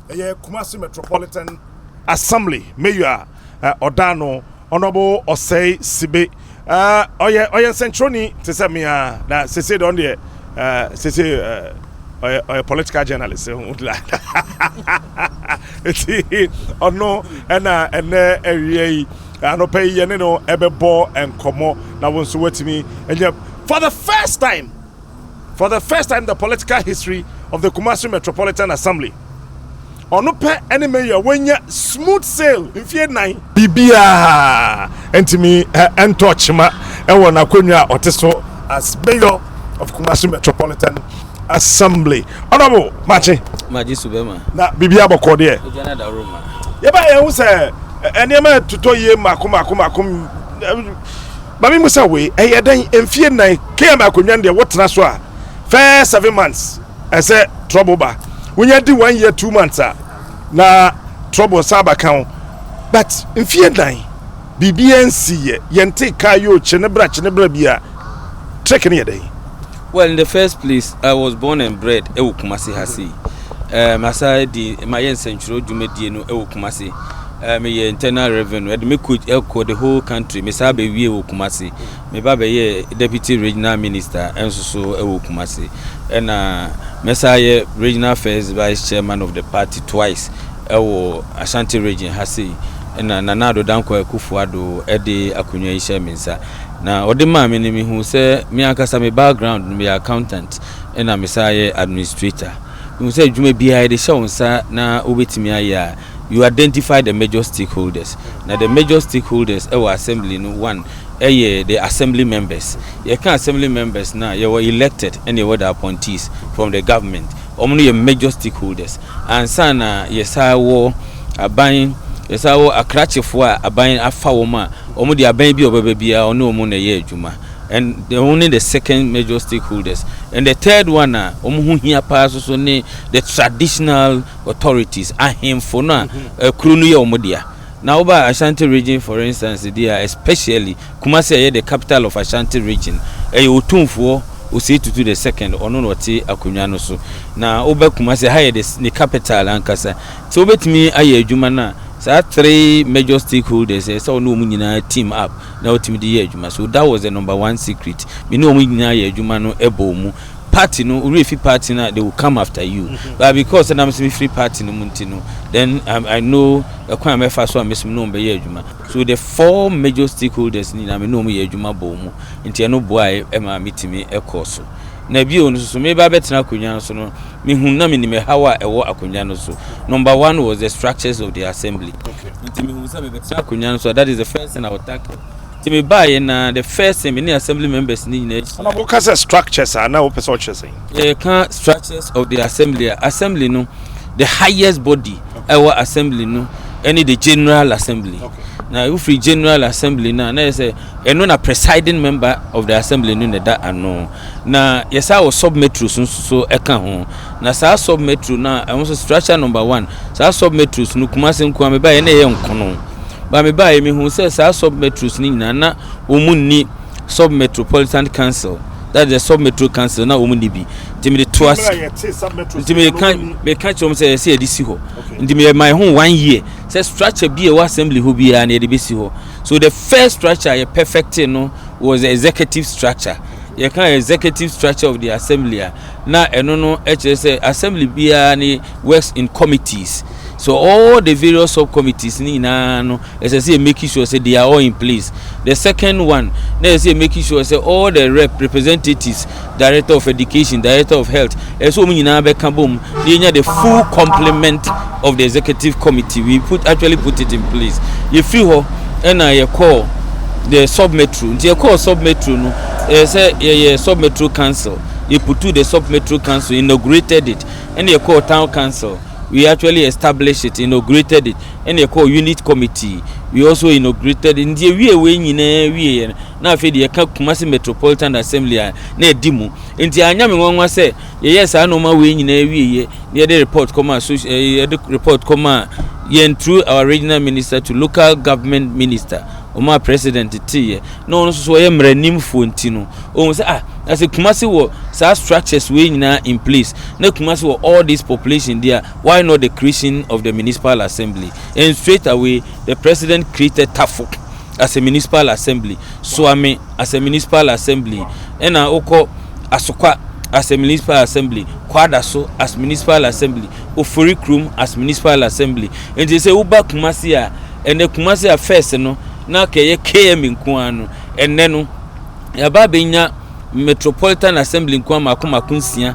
Ɛyɛ Kumasi Metropolitan Assembly Mayor a eh, ɔda ano, Honorable Osei Sibe. Eh, ɔyɛ ɔyɛ nsɛnkyerɛwni te sɛ me ara, na sese deɛ ɔno deɛ eh, sese eh, ɔyɛ ɔyɛ political journalist eh, ho la. Eti ɔno ɛna ɛnɛ ɛwia yi anɔpɛ yi yɛne no ɛbɛbɔ nkɔmɔ na wɔn nso wɔatumi ɛnyɛ for the first time. for the first time in the political history of the Kumasi Metropolitan Assembly. Ɔno pɛ ɛne mayor wɔnya smooth sail mfie nan. Biribiara ntumi ɛntɔ kyima ɛwɔ n'akonnwa a ɔte so as mayor of Kumasi Metropolitan Assembly. Honorable Makye. Magye so bɛma. Na biribiara bɔkɔɔ deɛ. Ɛgya na da roma. Yɛba yɛn ho sɛ nneɛma ɛtotɔ yie mako mako mako Mame mu sɛ wei ɛyɛ dɛn mfie nnan km akonwa no deɛ wo tena so a first seven months ɛsɛ trouble ba wonya di one year two months a na trouble san ba ka ho but mfie nnan biribiaa nsi yɛ yɛntee car yoo kye ne bra kye ne bra bia trick no yɛ dɛn Well in the first place I was born and bred wɔ Kumasi ha sei. Eh, masa di mayɛ nsɛntwerɛ dwumadie no wɔ Kumasi. Eh, meyɛ internal revenue ɛde me coach ɛkɔ the whole country mesaa bɛwie wɔ Kumasi. Meba bɛyɛ deputy regional minister nso so wɔ Kumasi. Ɛna mɛsaa yɛ regional first vice chairman of the party twice wɔ Ashanti region ha sei. Ɛna Nana Addo Dankwa Akufo-Addo ɛde akonnwa yi hyɛ me nsa. Na ɔde maa me no, mehuu sɛ me ankasa me background no, meyɛ accountant ɛna mesan yɛ administrator. Mehuu sɛ adwuma biara yɛde hyɛ wo nsa na wobɛtumi ayɛ a, you identify the major stakeholders. Na the major stakeholders wɔ assembly no, one, ɛyɛ the assembly members. Yɛka assembly members no a, yɛwɔ elected ɛna yɛwɔ the appointees from the government. Wɔn no yɛ major stakeholders ansa na yɛsan wɔ aban, yɛsan wɔ akrakyefoɔ a aban afa wɔn a wɔn deɛ aban bi a ɔbɛba biara ɔne wɔn na ɛyɛ adwuma and wɔn ne the second major stakeholders and the third one a wɔn ho hia paa soso ne the traditional authorities ahemfo no a mhm. kuro no yɛ wɔn dea na woba Ashanti region for instance deɛ especially Kumasi a ɛyɛ the capital of Ashanti region, ɛyɛ Otumfoɔ Osei Tutu the second, ɔno na ɔte akonnwa no so. Na woba Kumasi a, ha yɛ the ne capital ankasa. Sɛ wobɛtumi ayɛ adwuma no a, saa three major stakeholders ɛyɛ sɛ wo ne wɔn nyinaa team up na wotumi de yɛ adwuma. So that was the number one secret. Me ne wɔn nyinaa yɛ adwuma no bɔɔ mu. Party no, worɛ fi party no a, they will come after you. But because sɛ na me nso mefiri party no mu nti no, then I know ɛkwan a mɛfa so a me nso me ne wɔn bɛyɛ adwuma. So the four major stakeholders no nyinaa me ne wɔn yɛ adwuma bɔɔ mu nti ɛno boae maa me tumi kɔɔ so. Na bio nso so mereba abɛtena akonnwa no so no me hu na me nim ɛhaw a ɛwɔ akonnwa no so. Number one was the structures of the assembly. Nti me hu sɛ me bɛtena akonnwa no so a that is the first thing I will tackle. Nti me baa yɛ na the first thing me ne assembly members no nyinaa hyia. Na mo ka sɛ structures a na wo pɛ sɛ ɔkyerɛ sɛn? yɛka structures of the assembly a assembly no the highest body ɛwɔ okay. assembly no ɛne the general assembly okay. na wofiri general assembly no a na yɛ sɛ ɛno na presiding member of the assembly no na ɛda ano na yɛsa wɔ sub metro so so ɛka ho na saa sub metro no a ɛho so structure number one saa sub metros no kumase nkoa meba yɛ na ɛyɛ nkono ba meba yɛ mehu sɛ saa sub metros no nyinaa na wɔn mu nni sub metropolitan council that the sub metro council na wɔn ni bi nti mi de to ase nti mi ka mi ka kyerɛ wɔn sɛ ɛsɛ yɛde si hɔ nti mi yɛ my home one year sɛ structure bi a ɛwɔ assembly hɔ biara na yɛde bɛ si hɔ so the first structure yɛ perfect no was the executive structure yɛ ka executive structure of the assembly a na ɛno no ɛkyerɛ sɛ assembly biara ne works in committees. So all the various sub committees ni nyinaa no ɛsɛ sɛ yɛ make sure sɛ they are all in place. The second one na ɛsɛ sɛ yɛ make sure sɛ all the rep representatives, director of education, director of health, ɛsɛ sɛ wɔn nyinaa bɛka bom na yɛnya the full complement of the executive committee. We put actually put it in place. Yɛfiri hɔ ɛna yɛkɔɔ the sub metro nti yɛkɔɔ sub metro no ɛyɛ sɛ yɛyɛ sub metro council yɛputu the sub metro council inaugurated it ɛna yɛkɔɔ town council. we actually established it, inaugurated it, ɛna ɛkɔɔ unit committee, we also inaugurated it. Nti ewie wei nyinaa wie yɛ no, na afei deɛ ɛka Kumasi Metropolitan Assembly a na ɛdi mu. Nti anyɛ me nwanwa sɛ yɛyɛɛ saa nneɛma wei nyinaa wie yɛ na yɛde report kɔmaa so eh, yɛde report kɔmaa yɛn through our regional minister to local government minister ɔmaa president teeɛ na ɔno nso so ɔyɛ mmaranimfoɔ nti no Ohun sɛ ah na sɛ Kumasi wɔ saa structures wei nyinaa in place na Kumasi wɔ all this population deɛ a why not the creation of the municipal assembly and straight away the president created Tafo as a municipal assembly, Suame as a municipal assembly ɛna wokɔ Asokwa as a municipal assembly, Kwadaso as municipal assembly, Ofori Krom as municipal assembly. Nti sɛ woba Kumasi a ɛnɛ Kumasi a first no na kɛyɛ KMA nko ara no ɛnɛ no Yɛaba abɛnya Metropolitan Assembly nkoa mmaako mmaako nsia